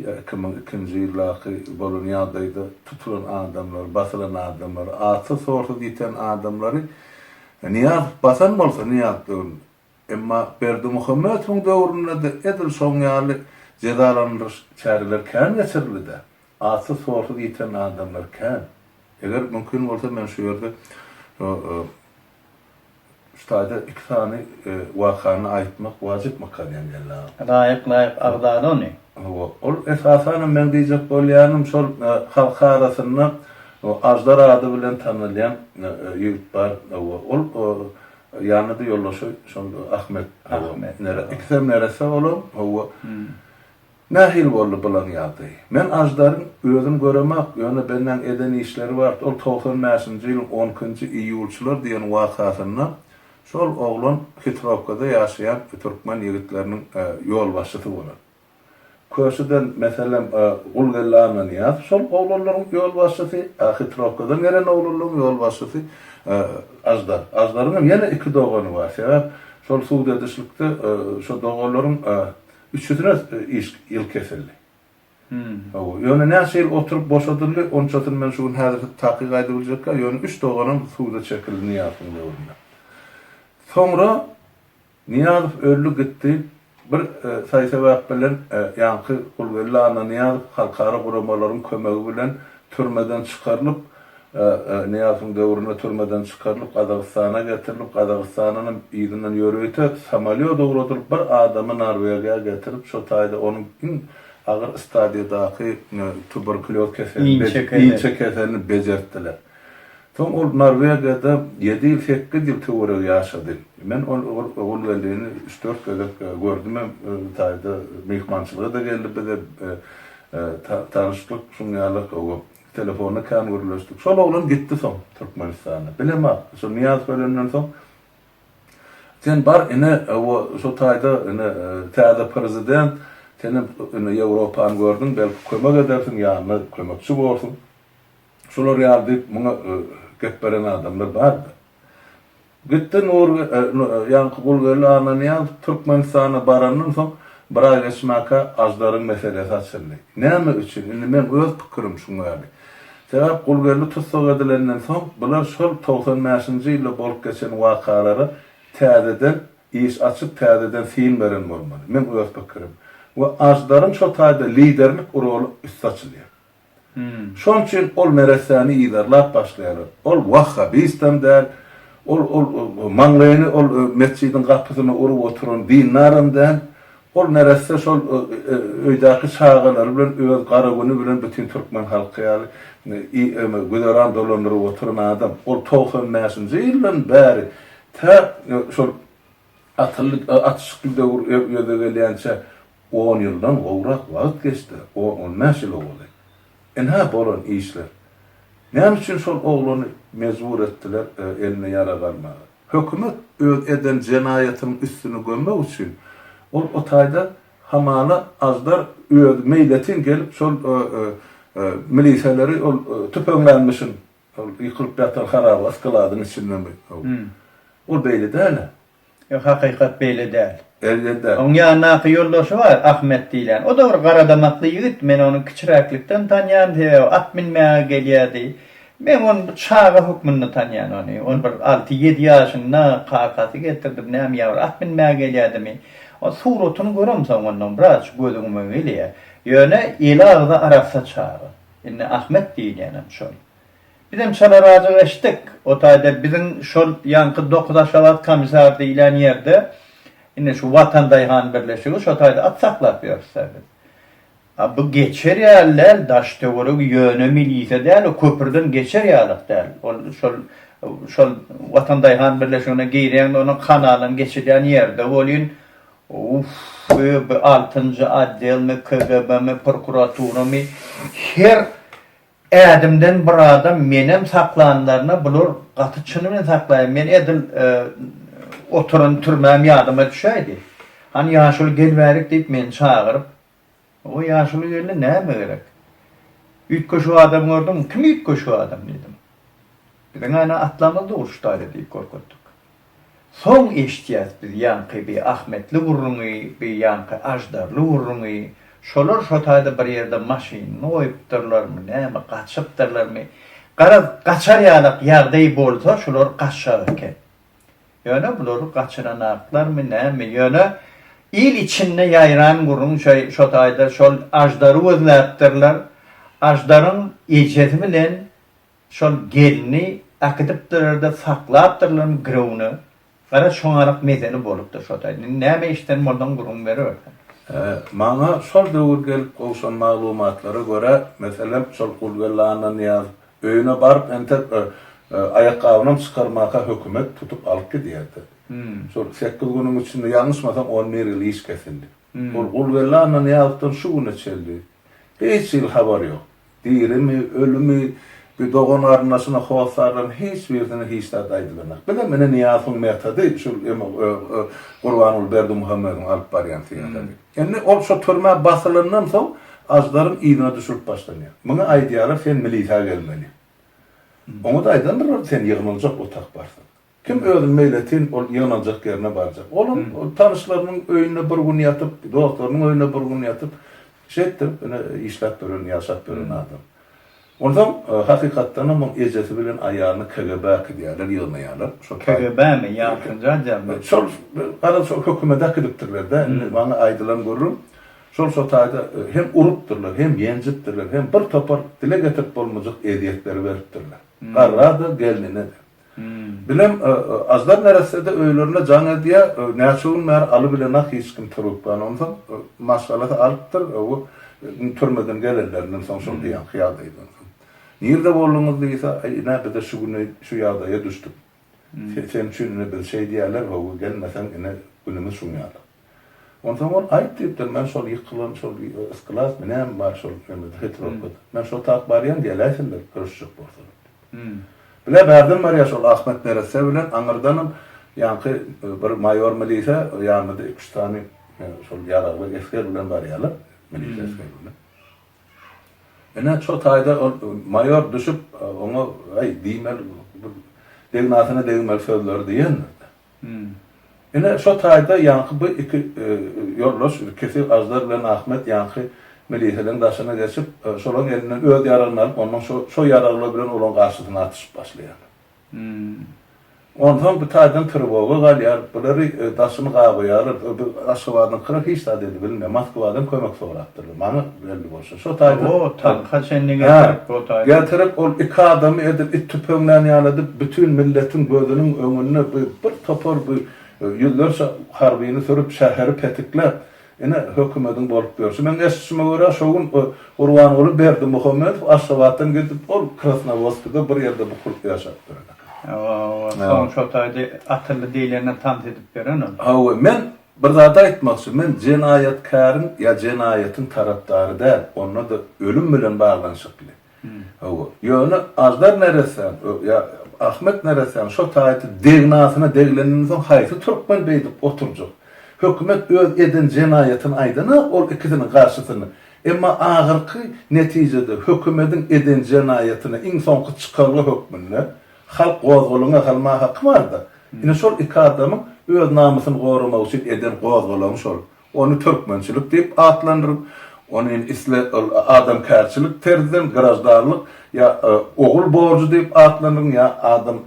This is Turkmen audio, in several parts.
Ýa iki müň ikinji ýyldaky bolan ýagdaýda tutulan adamlary, basylan adamlary, atsy sorsuz ýiten adamlary Nyýazow basan bolsa Nyýazow döwründe, emma Berdimuhamedowyň döwründe-de edil şoň ýaly jezalandyryş çäreleri kän geçirildi-dä. Atsy sorsuz ýiten adamlar kän. Eger mümkin bolsa men şu ýerde Ustaýda iki sany wakany aýtmak wajypmyka diýen geldi agam. Laýyk laýyk agzala ony. Hawa, ol esasanam meň diýjek bolýanym şol halk arasynda Aždar ady bilen tanalýan ýigit bar. Hawa, ol ýanyda ýoldaşy şol Ahmet. Ahmet. Ikisem neresse olam. Hawa. Nähili boldy bulaň ýagdaýy? Men Aždaryň özüm göremok, ýöne belläň eden işleri bart, ol togsan bäşinji ýylyň on ikinji iýulçylar diýen wakasynda şol oglan Hitrowkada ýaşaýan türkmen ýigitleriniň ýolbaşçysy bolan. Köşüden, meselem, Gulgeldi Annanyýaz şol oglanlaryň ýolbaşçysy, a Hitrowkadan gelen oglanlaryň ýolbaşçysy Aždar. Aždaryňam ýene iki dogany bar, sebäp şol sud edişlikde şo doganlaryň Üçüsine iş, ýyl kesildi. Hawa, ýöne näçe ýyl oturyp boşadyldy, onçasyny men şu gün häzir takyk aýdyp biljekka, ýöne üç doganam suda çekildi Nyýazowyň döwründe. Soňra Nyýazow öldi gitdi, bir saý-sebäp bilen ýaňky Gulgeldi Annanyýazow halkara guramalaryň kömegi bilen türmeden çykarylyp, Nyýazowyň döwründe türmeden çykarylyp, Gazagystana getirilip, Gazagystandanam yzyndan ýörite samolýot ugradylyp, bir adamy Norwegiýa getirip, şo taýda onuň iň agyr stadiýadaky tuberkulýoz keselini, inçe keselini bejertdiler. Soň ol Norwegiýada ýedi ýyl, sekiz ýyl töweregi ýaşady. Men ol Gulwellini üç-dört gezek gördümem, bir taýda myhmançylyga-da geldi bize, tanyşdyk, şuň ýaly, gowy Telefonda kän gürleşdik. Şol oglan gitdi soň Türkmenistana. Bilemok. Şo Nyýazow ölenden soň Sen bar ine o şo taýda ine täze prezident, senem ine Ýewropany gördüň, belki kömek edersiň, ýanyna kömekçi borsuň. Şular ýaly diýip muňa gep beren adamlar bar-da. Gitdi Nur ýaňky Gulgeldi Annanyýazow Türkmenistana barandan soň bir aý geçmäkä Aždaryň meselesi açyldy. Näme üçin? Indi meň öz pikirim şuň ýaly. Sebäp Gulgeldi tussag edilenden soň bular şol togsan bäşinji ýylda bolup geçen wakalara täzeden iş açyp täzeden syn beren bolmaly. Meň öz pikirim. We Aždaryň şo taýda liderlik roly üsti açylýar. Şonuň üçin ol neressäni yzarlap başlaýarlar. Ol wah habysdan däl, ol ol maňlaýyny ol metjidiň gapysyna urup oturan dindaram däl, ol neresse şol öýdäki çagalary bilen öz gara güni bilen bütin türkmen halky ýaly güzeran dolandyryp oturan adam. Ol togsan bäşinji ýyldan bäri tä şol Asylly atyşykly döwür ýüze gelýänçä on ýyldan gowrak wagt geçdi, on-on bäş ýyl owali. Ynha, bolan işler. Näme üçin şol oglany mejbur etdiler eline ýarag almaga? Hökümet öz eden jenaýatynyň üstüni gömmek üçin, ol o taýda hamala aždar özi meýletin gelip şol miliseleri ol tüpeňlänmişin Ol ýykylyp ýatan haraba yskaladyň içindemi? Ol beýle däl-ä. Ýok, hakykat beýle däl. Elbetde. Oň ýanyndaky ýoldaşy bar, Ahmet diýlen. O-da bir garadamakly ýigit. Men ony kiçiräklikden tanýan, sebäbi at minmäge gelýärdi. Men ony bir çaga hökmünde tanýan ony. Ol bir alty-ýedi ýaşynda kakasy getirdi, näme ýa bir at minmäge gelýädimi. Ol suratyny göremsoň ondan biraz göz öňüme geleýär. Ýöne eli agzy arassa çaga. Indi Ahmet diýilýänem şol. Bizem çalarazajyk eşitdik. O taýda biziň şol ýaňky Dokuz Aşgabat Komisar diýilýän ýerde, indi şu Watan daýhan birleşigi, şo taýda at saklap ýörüs-dä biz. A bu geçer ýaly däl, daş-töweregi ýöne milise däl, o köprüden geçer ýalyk däl. Ol şol, şol Watan daýhan birleşigine girýäň-de, onuň kanalynyň geçilýän ýeri-de welin, Uff-ff-f bu altynjy otdelmi KGBmi prokuraturamy her ädimden bir adam menem saklanlaryna bular gaty çyny bilen saklaýa men edil oturan türmäm ýadyma düşäýdi. Hany ýaşuly gel bärik diýip meni çagyryp Oňa ýaşuly gelne näme gerek? Üýtgeşik adam gördüňmi? Kim üýtgeşik adam? diýdim. Biziň ana atlarymyz-da uruşdaýdy diýip görkezdik. Soň eşitýäs biz ýaňky bi ahmetli gürrüňi, bi ýaňky aždarly gürrüňi, şolar şo taýda bir ýerde maşynyny goýupdyrlarmy, näme, gaçypdyrlarmy, garaz, gaçar ýalak ýagdaý bolsa şular gaçjak eken. Ýöne bulary gaçyranaklarmy näme ýöne il içinde ýaýran gürrüň şo taýda şol aždary gözläpdirler aždaryň ejesi bilen şol gelni äkidipdirerde saklapdyrlarmy girewine gara şoňarak mezeli bolupdyr şo taýda indi näme eşden bolsaň gürrüň beribersen. Maňa şol döwür gelip gowşan maglumatlara görä meselem şol Gulbella Annanyýazow Öýüne baryp entek bir aýakgabynam çykarmaka hökümet tutup alyp gidýärdi. Şol sekiz günüň içinde ýalňyşmasam on bir ýyl iş kesildi. Ol Gulgeldi Annanyýazowdan şu güne çenli hiç hili habar ýok. Dirimi, ölümi, bi dogan-garyndaşyna hossarlaryň hiç birisine hiç zat aýdylanok. Bizem ine Nyýazowyň metody şul Gurbanguly Berdimuhamedowyň alyp barýan syýasaty. Indi ol şo türmä basylandan soň Aždaryň yzyna düşürip başlanýar. Muňa aýdýarlar sen milisa gelmeli. Oňa-da aýdandyrlar sen ýygnaljak otak barsyň. Kim özüni meýletin ol ýygnaljak ýerine barjak. Olam ol tanyşlarynyň öýünde bir gün ýatyp, dostlarynyň öýünde bir gün ýatyp şeýtdirip ine işläp ýören, ýaşap ýören adam. Onsoň, hakykatdanam, muň ejesi bilen aýalyny KGB-a äkidýärler, ýygnaýarlar. Şol taý. KGB-mi? Ýalçynjy adjarmy? Şol, garaz, şol hökümede äkidipdirler-dä. Indi maňa aýdylan gürrüň, şol şo taýda hem urupdyrlar, hem ýenjipdirler, hem bir topar dile getirip bolmajak ezýetleri beripdirler. Garra-da, gelnine-de. Bilem, aždar neresse-de öýlerine jaň edýä, näçe gün bäri Aly bilen ak hiç kim turuzýan. Onsoň maşgalasy alypdyr, owo, indi türmeden gelenlerinden soň şol diýenki ýagdaýdan soň. Nirde bolduňyz diýse, Aý, ine, biz-de şu güni şu ýagdaýa düşdük. Sen üçin ine biz şeýdýäler, owo, gelmeseň ine günümiz şuňýala. Onsoň ol, Aýt, diýipdir, men şol ýykylan şol yskylasmy, näme bar şol nämede, Petrowkada? Men şo tak barýan, geläýseler, görüşjek bolsalar, diýipdir. Bile bärden barýar şol Ahmet neresse bilen, aňyrdanam ýaňky bir maýor milise, ýanynda iki-üç sany şol ýaragly esger bilen barýarlar, milise esgeri bilen. Ine, şo taýda ol maýor düşüp, oňa, Äý, diýmeli, bir degnasyna degmeli sözleri diýendir-de. Ine, şo taýda ýaňky bu iki ýoldaş, Kesig Aždar bilen Ahmet ýaňky miliseleň daşyna geçip, şolaň elinden öz ýaragyny alyp, ondan şo ýaraglar bilen olaň garşysyna atyşyp başlaýar. Onsoň bu taýdan trewoga galýar, bulary daşyny gabaýarlar. Aşgabadyňkylar hiç zat edibilmeýär. Moskwadan kömek sorapdyrlar, maňa belli bolşy. Şo taýda tanka çenli getirip o taýda. Getirip ol iki adamy edip it tüpeňlän ýaly edip bütin milletiň gözüniň öňünde bu bir topar bu ýüzlerçe harbyny sürüp şäheri petikläp ine hökümediň bolup ýörşi. Meň eşitişime görä şo gün Gurbanguly Berdimuhamedow Aşgabatdan gidip ol Krasnowodskide bir ýerde bukulyp ýaşapdyr eken. Hawa hawa soň şo taýda atyldy diýlenden tans edip ýören ol. Hawa men Bir zady aýtmakçy, men jenaýatkäriň ýa jenaýatyň tarapdary däl, onda-da ölüm bilen baglanyşykly. Hawa. Ýöne Aždar neressäň ýa Ahmet neressäň şo taýda degnasyna degleninden soň haýsy türkmen beýdip oturjak? Hökümet öz eden jenaýatyny aýdana ol ikisiniň garşysyna. Emma ahyrky netijede hökümediň eden jenaýatyny iň soňky çykalga hökmünde Halk gozgalaňa salmaga haky barda. Ine şol iki adamyň öz namysyny goramak üçin eden gozgalaňy şol. Ony türkmençilik diýip atlandyryň. Ony indi isle ol adamkärçilik terzden graždanlyk ýa ogul borjy diýip atlandyryň ýa adam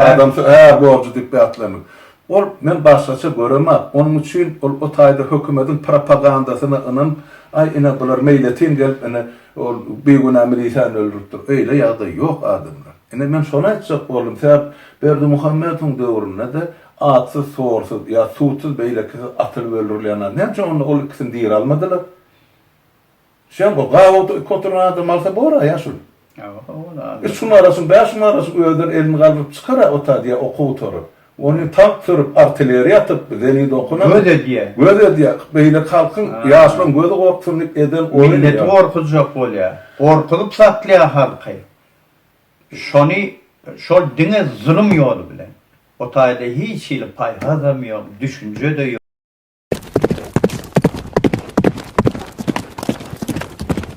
adam är borjy diýip atlandyryň. Ol men başgaça göremap. Onuň üçin ol o taýda hökümediň propagandasyna ynanyp, aý ine bular meýletin gelip ine Ol bigünä milisiýany öldüripdir. Öýle ýagdaý ýok adamlar. Ine men şony aýtjak boldum. Sebäp Berdimuhamedowyň döwründe-de atsyz, sorsuz ýa sudsuz beýlekisi atylyp öldürilýän adam. Näme üçin onda ol ikisini diri almadylar? Şem o gabat iki oturan adamy alsa bor-a ýaşuly. Üç gün arasyn, bäş gün arasyn özleri elini galdyryp çykar-a o tadiýa okuw otaryp. Ony tagt sürüp, artilleriýa atyp, zelil okunyp, Göz edýär. göz edýär. Beýleki halkyň, Ha. ýaşlaryň gözi gorksun diýip eden oýny Milleti ýa. gorkuzjak bolýar. Gorkuzyp satýar halky. Şony, şol diňe zulum ýoly bilen. O taýda hiç hili paýhasam ýok, düşünje-de ýok.